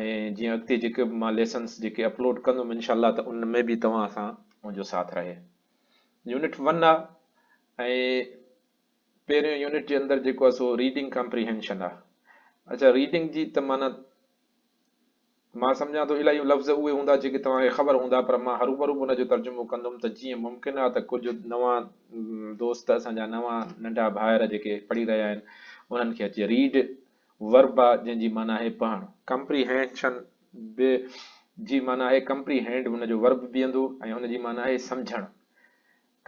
۽ جيئن اڳتي جيڪي به مان ليسنس جيڪي اپلوڊ ڪندم انشاء الله ته ان ۾ به توهان سان منهنجو ساٿ رهي. يونٽ ون آ ۽ پهريون يونٽ جي اندر جيڪو آ سو ريڊنگ ڪمپريهنشن آ اڇا ريڊنگ جي ته معنيٰ مان سمجهان ٿو الاهيون لفظ اهي هوندا جيڪي توهان کي خبر هوندا پر مان هروبرو به ان جو ترجمو ڪندم ته جيئن ممڪن آ ته ڪجهه نوان دوست اسان جا نوان ننڍا ڀائر جيڪي پڙهي رهيا آهن انهن کي اچي ريڊ Verba، جنهن جي معنيٰ آهي پهڻ. Comprehension، به جي معنيٰ آهي Comprehend، ان جو Verb بيهندو ۽ هن جي معنيٰ آهي سمجهڻ.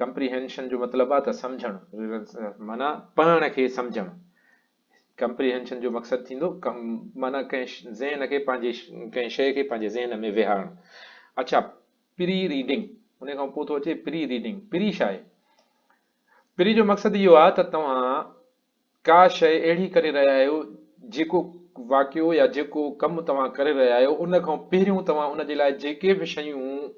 Comprehension جو مطلب آهي ته سمجهڻ. معنيٰ پهڻ کي سمجهڻ. Comprehension جو مقصد ٿيندو ڪم معنيٰ ڪنهن ذهن کي پنهنجي ڪنهن شيء کي پنهنجي ذهن ۾ ويهارڻ. اڇا Pre Reading، ان کان پوء ٿو اچي Pre Reading، پري ڇا آهي؟ پري جو مقصد اهو آهي ته توهان ڪا شيء اهڙي ڪري رهيا آهيو، جيڪو واقعو يا جيڪو ڪم توهان ڪري رهيا آهيو، ان کان پهريون توهان ان جي لاء جيڪي به شيون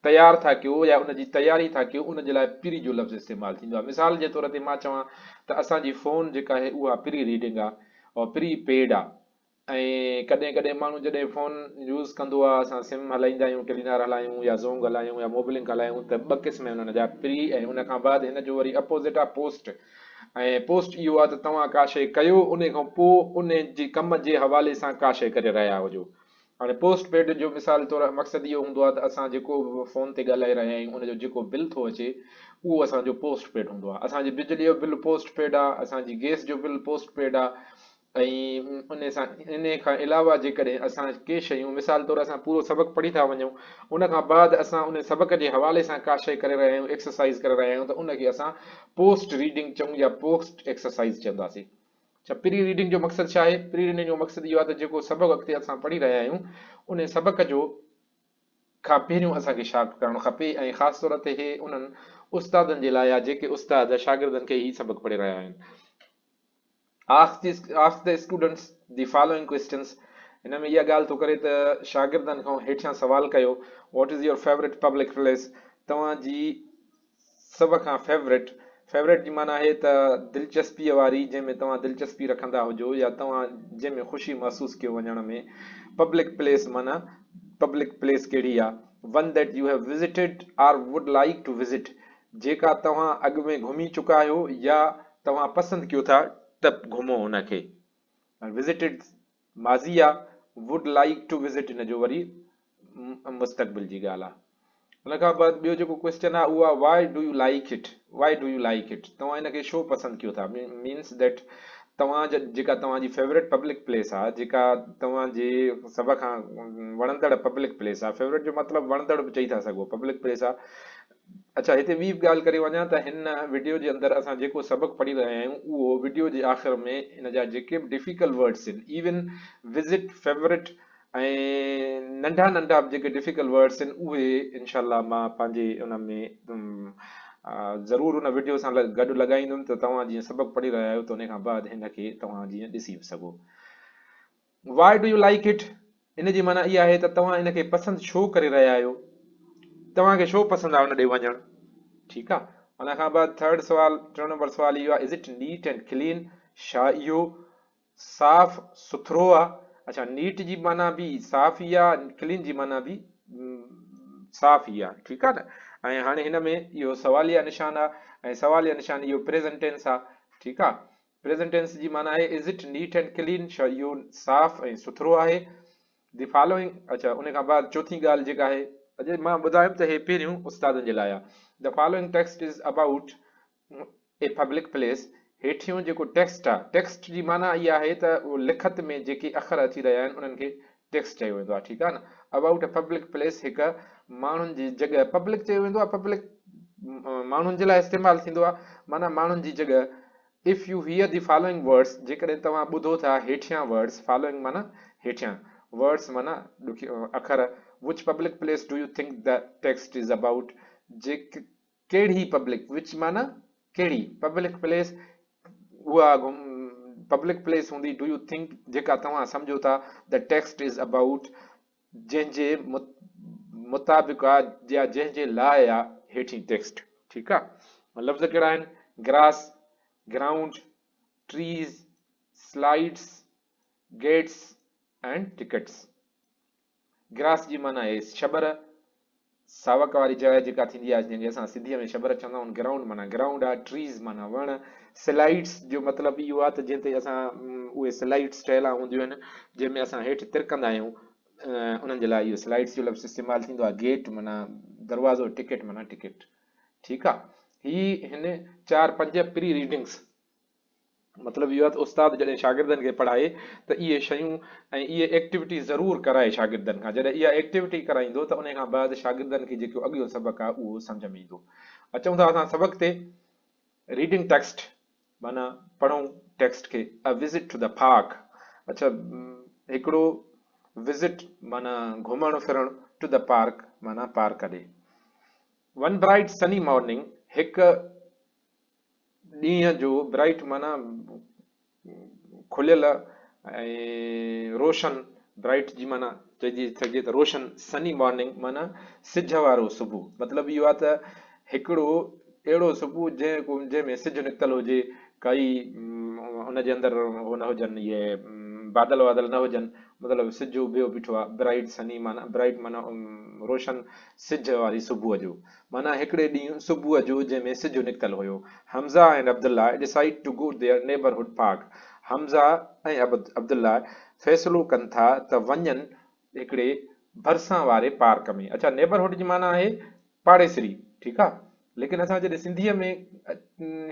تيار ٿا ڪيو يا ان جي تياري ٿا ڪيو، ان جي لاء پري جو لفظ استعمال ٿيندو آهي. مثال جي طور تي مان چوان ته اسان جي فون جيڪا آهي اها پري ريڊنگ آهي، پري پيڊ آهي. ائين ڪڏهن ڪڏهن ماڻهو جڏهن فون يوز ڪندو آهي اسان سم هلائيندا آهيون ٽيلينار هلايون يا زونگ هلايون يا موبلنڪ هلايون ته ٻه قسم آهن ان جا پري ۽ ان کان بعد هن جو وري اپوزٽ آهي پوسٽ ۽ پوسٽ اهو آهي ته توهان ڪا شئي ڪيو ان کان پو ان جي ڪم جي حوالي سان ڪا شئي ڪري رهيا هجو هاڻي پوسٽ پيڊ جو مثال طور مقصد اهو هوندو آهي ته اسان جيڪو به فون تي ڳالهائي رهيا آهيون ان جو جيڪو بل ٿو اچي اهو اسان جو پوسٽ پيڊ هوندو آهي اسان جي بجلي جو بل پوسٽ پيڊ آهي اسان جي گئس جو بل پوسٽ پيڊ آهي ۽ انهي کان علاوه جيڪڏهن اسان ڪي شيون مثال طور اسان پورو سبق پڙهي ٿا وڃون ان کان بعد اسان انهي سبق جي حوالي سان ڪا شيء ڪري رهيا آهيون ايڪسرسائيز ڪري رهيا آهيون ته ان کي اسان پوسٽ ريڊنگ چئون يا پوسٽ ايڪسرسائيز چونداسين اڇا پري ريڊنگ جو مقصد ڇا آهي پري ريڊنگ جو مقصد اهو آهي ته جيڪو سبق اڳتي اسان پڙهي رهيا آهيون انهي سبق جو کان پهريون اسان کي شارپ ڪرڻ کپي ۽ خاص طور تي هي انهن استادن جي لاء آهي جيڪي استاد شاگردن کي هي سبق پڙهي رهيا آهن Ask the Ask the students the following questions هن ۾ اها ڳالهه ٿو ڪري ته شاگردن کان هيٺيان سوال ڪيو what is your favourite public place توهان جي سڀ کان فيوريٽ فيوريٽ جي معنی آهي ته دلچسپي واري جنهن ۾ توهان دلچسپي رکندا هجو يا توهان جنهن ۾ خوشي محسوس ڪيو وڃڻ ۾ پبلڪ پليس معنی پبلڪ پليس ڪهڙي آهي one that you have visited or would like to visit جيڪا توهان اڳ ۾ گهمي چڪا آهيو يا توهان پسند ڪيو ٿا ته گهمو ان کي I visited ماضي آ would like to visit ان جو وري مستقبل جي ڳالهه آ ان کان بعد ٻيو جيڪو ڪويسچن آ اهو آ why do you like it why do you like it توهان ان کي شو پسند ڪيو ٿا means that توهان جا جيڪا توهان جي فيوريٽ پبلڪ پليس آ جيڪا توهان جي سڀ کان وڻندڙ پبلڪ پليس آ فيوريٽ جو مطلب وڻندڙ به چئي ٿا سگهو پبلڪ پليس آ اچا هتي ٻي به ڳالهه ڪري وڃان ته هن وڊيو جي اندر اسان جيڪو سبق پڙهي رهيا آهيون اهو وڊيو جي آخر ۾ ان جا جيڪي به ڊفيڪلٽ ورڊس آهن ايون وزٽ فيورٽ ۽ ننڍا ننڍا به جيڪي ڊفيڪلٽ ورڊس آهن اهي انشاء الله مان پنهنجي ان ۾ ضرور ان وڊيو سان گڏ لڳائيندم ته توهان جيئن سبق پڙهي رهيا آهيو ته ان کان بعد هن کي توهان جيئن ڏسي به سگهو Why do you like it؟ ان جي معنيٰ اها آهي ته توهان ان کي پسند ڇو ڪري رهيا آهيو؟ توهان کي ڇو پسند آهي ان ڏي وڃڻ؟ ٺيڪ آهي. ان کان بعد ٿرڊ سوال ٽيون نمبر سوال اهو آهي is it neat and clean? ڇا اهو صاف سٿرو آهي؟ اڇا نيٽ جي معنيٰ به صاف ئي آهي ڪلين جي معنيٰ به صاف ئي آهي ٺيڪ آهي نه ۽ هاڻي هن ۾ اهو سواليه نشان آهي ۽ سواليه نشان اهو پريزنٽ ٽينس آهي ٺيڪ آهي پريزنٽ ٽينس جي معنيٰ آهي Is it neat and clean؟ ڇا اهو صاف ۽ سٿرو آهي؟ The following اڇا ان کان بعد چوٿين ڳالهه جيڪا آهي. اڄ مان ٻڌايم ته هي پهريون استادن جي لاء آهي. The following text is about a public place. هيٺيون جيڪو ٽيڪسٽ آهي، ٽيڪسٽ جي معنيٰ اها آهي ته لکت ۾ جيڪي اکر اچي رهيا آهن انهن کي ٽيڪس چيو ويندو آهي ٺيڪ آهي نه ابائوٽ اي پبلڪ پليس هڪ ماڻهن جي جڳهه پبلڪ چيو ويندو آهي پبلڪ ماڻهن جي لاء استعمال ٿيندو آهي معنيٰ ماڻهن جي جڳهه if you hear the following words جيڪڏهن توهان ٻڌو ٿا هيٺيان ورڊس فالوئنگ معنيٰ هيٺيان ورڊس معنيٰ ڏکي اکر which public place do you think the text is about جيڪ ڪهڙي پبلڪ وچ معنيٰ ڪهڙي پبلڪ پليس اها پبلڪ پليس هوندي ڊو يو ٿنڪ جيڪا توهان سمجهو ٿا the text is about جنهن جي مطابق آ يا جنهن جي لاء آ هيٺين ٽيڪسٽ ٺيڪ آ لفظ ڪهڙا آهن grass ground trees slides gates ۽ tickets grass جي معنيٰ آهي شبر، ساوڪ واري جاء جيڪا ٿيندي آهي جنهن کي اسان سنڌيء ۾ شبر چوندا آهيون. گرائونڊ معنيٰ گرائونڊ آهي، ٽريز معنيٰ وڻ، سلائيڊس جو مطلب اهو آهي ته جنهن تي اسان اهي سلائيڊس ٺهيل هونديون آهن جنهن ۾ اسان هيٺ ترڪندا آهيون انهن جي لاء اهو سلائيڊس جو لفظ استعمال ٿيندو آهي. گيٽ معنيٰ دروازو، ٽڪيٽ معنيٰ ٽڪيٽ. ٺيڪ آهي. هي هن چار پنج پري ريڊنگس. مطلب اهو آهي ته استاد جڏهن شاگردن کي پڙهائي ته اهي شيون ۽ اهي ايڪٽيوٽي ضرور ڪرائي شاگردن کان جڏهن اها ايڪٽيوٽي ڪرائيندو ته ان کان بعد شاگردن کي جيڪو اڳيون سبق آهي اهو سمجهه ۾ ايندو اچون ٿا اسان سبق تي ريڊنگ ٽيڪسٽ معنی پڙهون ٽيڪسٽ کي a visit to the park اچھا هڪڙو وزٽ معنی گهمڻ ڦرڻ ٽو دا پارڪ معنی پارڪ ڏي ون برائيٽ سني مارننگ هڪ ڏينهن جو برائيٽ معنيٰ کليل ۽ روشن Bright جي معنيٰ چئجي سگهجي ته روشن Sunny Morning معنيٰ سج وارو صبح مطلب اهو آهي ته هڪڙو اهڙو صبح جنهن ۾ سج نڪتل هجي ڪائي ان جي اندر هو نه هجن اهي بادل وادل نه هجن مطلب سج اڀيو بيٺو آهي Bright Sunny معنيٰ Bright معنيٰ روشن سج واري صبح جو معنيٰ هڪڙي ڏينهن صبح جو جنهن ۾ سج نڪتل هيو. Hamza ۽ Abdullah decide to go their neighbourhood park Hamza ۽ Abdullah فيصلو ڪن ٿا ته وڃن هڪڙي ڀرسان واري پارڪ ۾. اڇا نيبرهوڊ جي معنيٰ آهي پاڙيسري ٺيڪ آ ليڪن اسان جڏهن سنڌيء ۾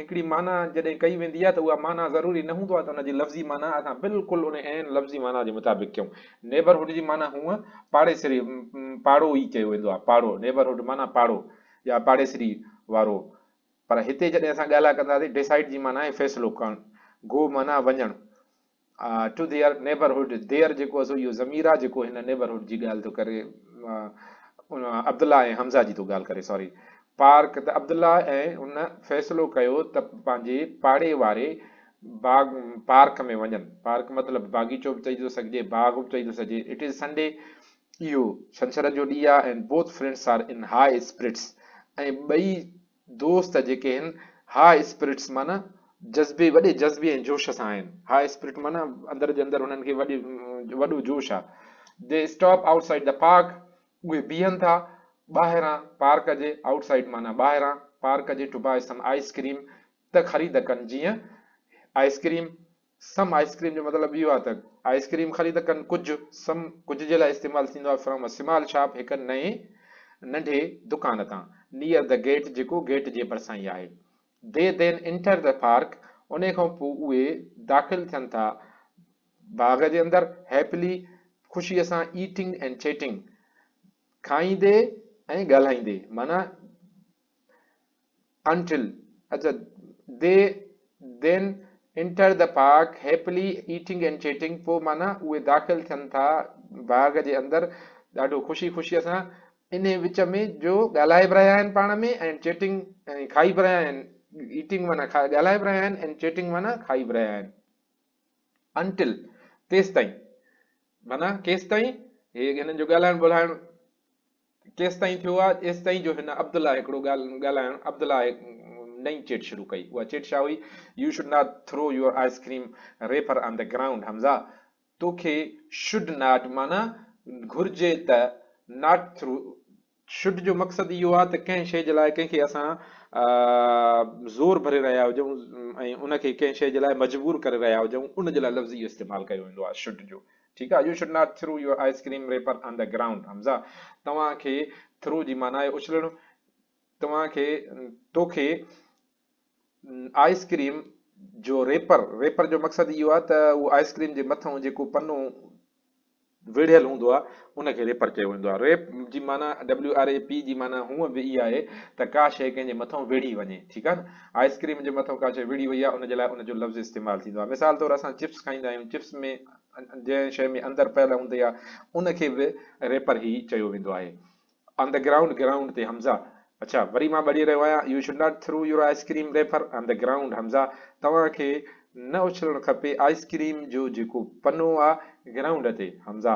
هڪڙي معنيٰ جڏهن ڪئي ويندي آهي ته اها معنيٰ ضروري نه هوندو آهي ته ان جي لفظي معنيٰ اسان بلڪل ان عين لفظي معنيٰ جي مطابق ڪيون. Neighbourhood جي معنيٰ هونء پاڙيسري، پاڙو، ئي چيو ويندو آهي، پاڙو، Neighbourhood، معنيٰ پاڙو يا پاڙيسري وارو. پر هتي جڏهن اسان ڳالهه ڪنداسين Decide جي معنيٰ آهي فيصلو ڪرڻ، Go معنيٰ وڃڻ. ٽو ديئر نيبرهوڊ، ديئر جيڪو آهي سو اهو ضمير آهي جيڪو هن نيبرهوڊ جي ڳالهه ٿو ڪري. عبدالله ۽ حمزه جي ٿو ڳالهه ڪري ساري. پارڪ ته عبدالله ۽ هن فيصلو ڪيو ته پنهنجي پاڙي واري باغ پارڪ ۾ وڃن. پارڪ مطلب باغيچو به چئي ٿو سگهجي، باغ به چئي ٿو سگهجي. اٽ از سنڊي، اهو ڇنڇر جو ڏينهن آهي، and both friends are in high spirits ۽ ٻئي دوست جيڪي هن هاء اسپرٽس معنيٰ جذبي وڏي جذبي ۽ جوش سان آهن. هاء اسپرٽ معنيٰ اندر جي اندر هنن کي وڏي وڏو جوش آ. The stop outside the park اهي بيهن ٿا ٻاهران پارڪ جي آئوٽ سائيڊ معنيٰ ٻاهران پارڪ جي to buy some ice cream ته خريد ڪن جيئن ice cream some ice cream جو مطلب اهو آهي ته آئس ڪريم خريد ته ڪن ڪجهه سم ڪجهه جي لاء استعمال ٿيندو آهي فرام سمال شاپ هڪ نئين ننڍي دڪان تان نيئر دي گيٽ جيڪو گيٽ جي ڀرسان ئي آهي they then enter the park انهي کان پوء اهي داخل ٿين ٿا باغ جي اندر هيپلي خوشي سان ايٽنگ اينڊ چيٽنگ کائيندي ۽ ڳالهائيندي معنيٰ Until اچا they then enter the park happily eating and chatting پوء معنيٰ اهي داخل ٿين ٿا باغ جي اندر ڏاڍو خوشي خوشيء سان انهي وچ ۾ جو ڳالهائي به رهيا آهن پاڻ ۾ ۽ چيٽنگ ۽ کائي به رهيا آهن ايٽنگ معنيٰ ڳالهائي به رهيا آهن اينڊ چيٽنگ معنيٰ کائي به رهيا آهن انٽل تيستائين معنيٰ ڪيستائين هي هنن جو ڳالهائڻ ٻولهائڻ ڪيستائين ٿيو آهي؟ ايستائين جو هن عبدالله هڪڙو ڳالهه ڳالهائڻ عبدالله هڪ نئين چٽ شروع ڪئي. اها چٽ ڇا هئي؟ You should not throw your ice cream wrapper on the ground Hamza توکي شوڊ ناٽ معنيٰ گهرجي ته ناٽ ٿرو شوڊ جو مقصد اهو آهي ته ڪنهن شيء جي لاء ڪنهن کي اسان زور ڀري رهيا هجون ۽ ان کي ڪنهن شيء جي لاء مجبور ڪري رهيا هجون ان جي لاء لفظ اهو استعمال ڪيو ويندو آهي شوڊ جو. ٺيڪ آهي you should not throw your ice cream wrapper on the ground Hamza توهان کي ٿرو جي معنيٰ آهي اڇلڻ توهان کي توکي آئس ڪريم جو ريپر ريپر جو مقصد اهو آهي ته اهو آئس ڪريم جي مٿان جيڪو پنو ويڙهيل هوندو آهي ان کي ريپر چيو ويندو آهي ريپ جي معنيٰ ڊبليو آر اي پي جي معنيٰ هونء به اها آهي ته ڪا شيء ڪنهن جي مٿان ويڙهي وڃي ٺيڪ آهي نه آئس ڪريم جي مٿان ڪا شيء ويڙهي وئي آهي ان جي لاء ان جو لفظ استعمال ٿيندو آهي مثال طور اسان چپس کائيندا آهيون چپس ۾ جنهن شيء ۾ اندر پيل هوندي آهي ان کي به ريپر هي چيو ويندو آهي آن دي گرائونڊ گرائونڊ تي حمزه اڇا وري مان ٻڙي رهيو آهيان you should not throw your ice cream wrapper on the ground Hamza توهان کي نه اڇلڻ کپي آئس ڪريم جو جيڪو پنو آهي گرائونڊ تي حمزه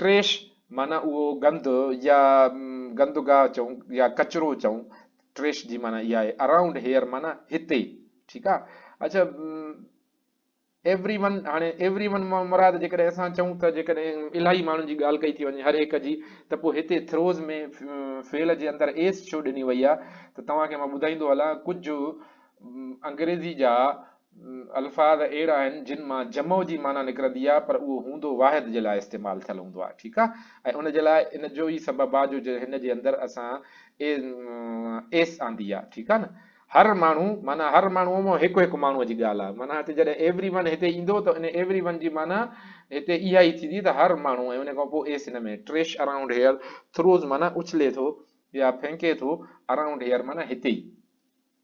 ٽريش معنيٰ اهو گند يا گندگاهه چئون يا ڪچرو چئون ٽريش جي معنيٰ اها آهي اراونڊ هيئر معنيٰ هتي ٺيڪ آهي اڇا ايوري ون هاڻي ايوري ون مان مراد جيڪڏهن اسان چئون ته جيڪڏهن الاهي ماڻهن جي ڳالهه ڪئي ٿي وڃي هر هڪ جي ته پوء هتي ٿروز ۾ فعل جي اندر ايس ڇو ڏني وئي آهي ته توهان کي مان ٻڌائيندو هلان ڪجهه انگريزي جا الفاظ اهڙا آهن جن مان جمع جي معنيٰ نڪرندي آهي پر اهو هوندو واحد جي لاء استعمال ٿيل هوندو آهي ٺيڪ آهي ۽ ان جي لاء ان جو ئي سبب آهي جو هن جي اندر اسان ايس آندي آهي ٺيڪ آهي نه هر ماڻهو معنيٰ هر ماڻهو مان هڪ هڪ ماڻهو جي ڳالهه آهي معنيٰ هتي جڏهن ايوري ون هتي ايندو ته ان ايوري ون جي معنيٰ هتي اها ئي ٿيندي ته هر ماڻهو ۽ ان کان پوء ايس هن ۾ ٽريش اراؤنڊ هيئر ٿروز معنيٰ اڇلي ٿو يا ڦهنڪي ٿو اراؤنڊ هيئر معنيٰ هتي ئي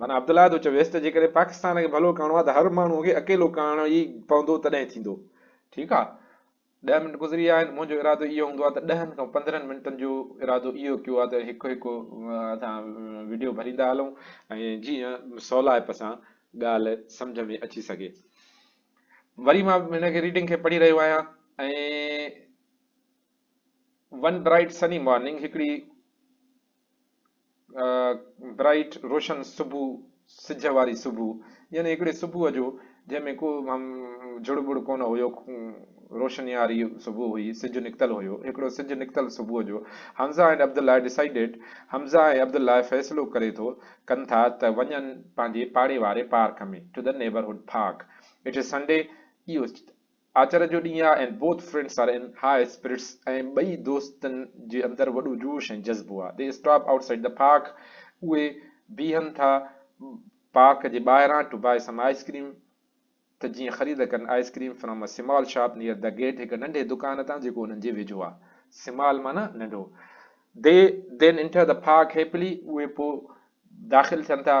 معنيٰ عبدالله ٿو چويس ته جيڪڏهن پاڪستان کي ڀلو ڪرڻو آهي ته هر ماڻهوء کي اڪيلو ڪرڻو ئي پوندو تڏهن ٿيندو. ٺيڪ آهي. ڏهه منٽ گذري ويا آهن، منهنجو ارادو اهو هوندو آهي ته ڏهن کان پندرهن منٽن جو ارادو اهو ڪيو آهي ته هڪ هڪ اسان وڊيو ڀريندا هلون ۽ جيئن سولائپ سان ڳالهه سمجهه ۾ اچي سگهي. وري مان هن کي ريڊنگ کي پڙهي رهيو آهيان ۽ ون برائيٽ سني مارننگ هڪڙي برائيٽ روشن صبح سج واري صبح يعني هڪڙي صبح جو جنهن ۾ ڪو جڙ ٻڙ ڪونه هيو روشني واري صبح هئي سج نڪتل هيو هڪڙو سج نڪتل صبح جو حمزه ۽ عبدالله ڊسائيڊيڊ حمزه ۽ عبدالله فيصلو ڪري ٿو ڪن ٿا ته وڃن پنهنجي پاڙي واري park ۾ to the neighbourhood park it is Sunday اهو آچر جو ڏينهن آ and both friends are in high spirits ۽ ٻئي دوستن جي اندر وڏو جوش ۽ جذبو آ the stop outside the park اهي بيهن ٿا پارڪ جي ٻاهران to buy some ice cream ته جيئن خريد ڪن ice cream from a small shop near the gate هڪ ننڍي دڪان تان جيڪو انهن جي ويجهو آ سمال معنيٰ ننڍو they then enter the park happily اهي پوء داخل ٿين ٿا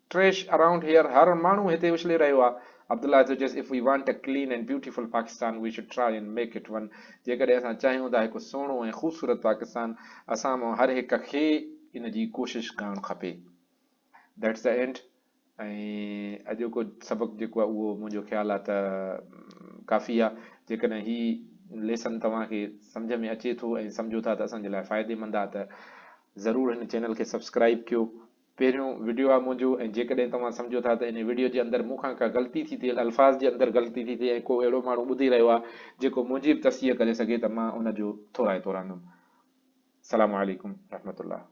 Trash around here هر ماڻهو هتي اڇلي رهيو آهي. عبدالله جو چيس If we want a clean and beautiful Pakistan we should try and make it one جيڪڏهن اسان چاهيون ٿا هڪ سهڻو ۽ خوبصورت پاڪستان اسان مان هر هڪ کي ان جي ڪوشش ڪرڻ کپي That's the end ۽ اڄوڪو سبق جيڪو آهي اهو منهنجو خيال آهي ته ڪافي آهي جيڪڏهن هي ليسن توهان کي سمجهه ۾ اچي ٿو ۽ سمجهو ٿا ته اسان جي لاء فائدي مند آهي ته ضرور هن چينل کي سبسڪرائب ڪيو پهريون وڊيو آ منهنجو ۽ جيڪڏهن توهان سمجهو ٿا ته انهي وڊيو جي اندر مون کان ڪا غلطي ٿي ٿئي الفاظ جي اندر غلطي ٿي ٿئي ۽ ڪو اهڙو ماڻهو ٻڌي رهيو آ جيڪو منهنجي به تصحيح ڪري سگهي ته مان ان جو ٿورائتو رهندم سلام عليڪم رحمت الله.